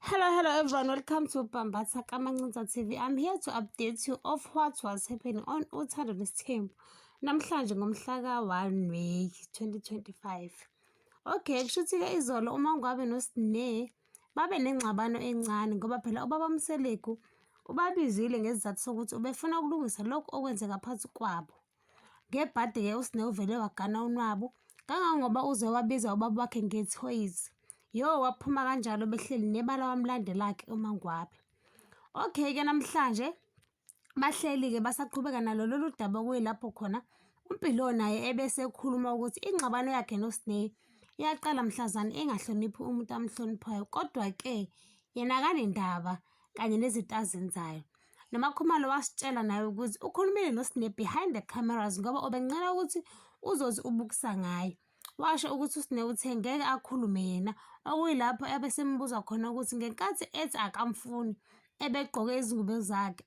Hello, hello everyone. Welcome to Bambatsa Kamancinza TV. I'm here to update you of what was happening on Uthando Nesithembu. Namhlanje ngomhla ka-1 May 2025. Okay, kushuthi-ke izolo uma ngwabe noSne babe nengxabano encane ngoba phela ubaba Mseleku ubabizile ngesizathu sokuthi ubefuna ukulungisa lokhu okwenzeka phansi kwabo. Ngebhadi-ke uSne uvele wagana unwabu kangangoba uze wabiza ubaba wakhe ngethoyizi. Yo waphuma kanjalo behleli nebala wamlandelakhe uMangwabe. Okay-ke namhlanje bahleli-ke basaqhubeka nalo lolu daba okuyilapho khona uMpilo naye ebese ekhuluma ukuthi ingxabano yakhe noSne iyaqala mhlazane engahloniphi umuntu amhloniphayo kodwa-ke yena kanendaba kanye nezinto azenzayo. NoMakhumalo wasitshela naye ukuthi ukhulumile noSne behind the cameras ngoba ubencela ukuthi uzothi ubukisa ngayo. Washo ukuthi uSne uthe ngeke akhulume yena, okuyilapho ebesembuza khona ukuthi ngenkathi ethi akamfuni, ebegqoke izingubo zakhe,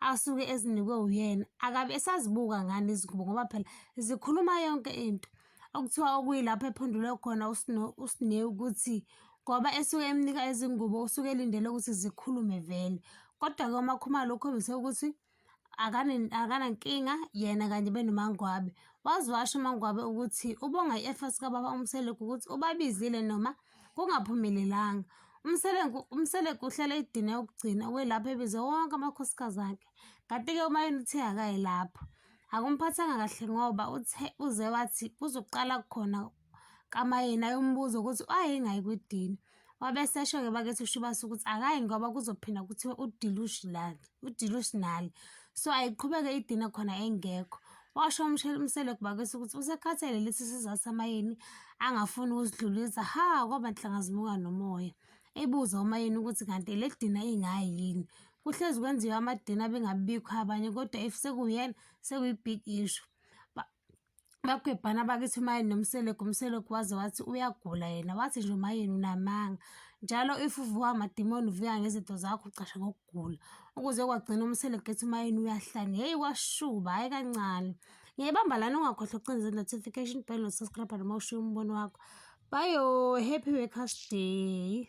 asuke ezinikwe uyena akabe esazibuka ngani izingubo ngoba phela zikhuluma yonke into okuthiwa okuyilapho ephendule khona usine ukuthi ngoba esuke emnika izingubo usuke elindele ukuthi zikhulume vele kodwa-ke umakhumalo ukhombise ukuthi akanankinga yena kanye benomangwabe waziwasho umangwabe ukuthi ubonga i-efforts kababa umseleku ukuthi ubabizile noma Kungaphumelelanga. UMseleku uMseleku uhlale idine ukugcina kwelapho ebize wonke amakhosikazi akhe. Kanti-ke uMayeni uthe akaye lapho. Akumphathanga kahle ngoba uthe uze wathi kuzoqala khona kaMayeni ayombuza ukuthi wayengayi kwidini. Wabe esesho-ke bakithi uShubasa ukuthi akayi ngoba kuzophinda kuthiwe udilushi lana. udilusional so ayiqhubeke idina khona engekho washo umseleko bakesi ukuthi usekhathele lesi sizathu amayeni angafuni ukusidlulisa ha kwaba nhlanga zimuka nomoya ebuza umayeni ukuthi kanti eledina ingayi yini kuhlezi kwenziwa amadina bengabikho abanye kodwa if sekuyena sekuyi-big issue bakwebhana bakithi umayeni nomseleku umseleku waze wathi uyagula yena wathi nje umayeni unamanga njalo if uvuka amadimoni uvuka ngezinto zakho ucashe ngokugula ukuze kwagcina umseleku ethi umayeni uyahlanya heyi kwashuba hhayi kancane ngiyayibamba lana ungakhohlwa ukucinza notification bell nosubscribe noma ushiye umbono wakho bayo happy workers day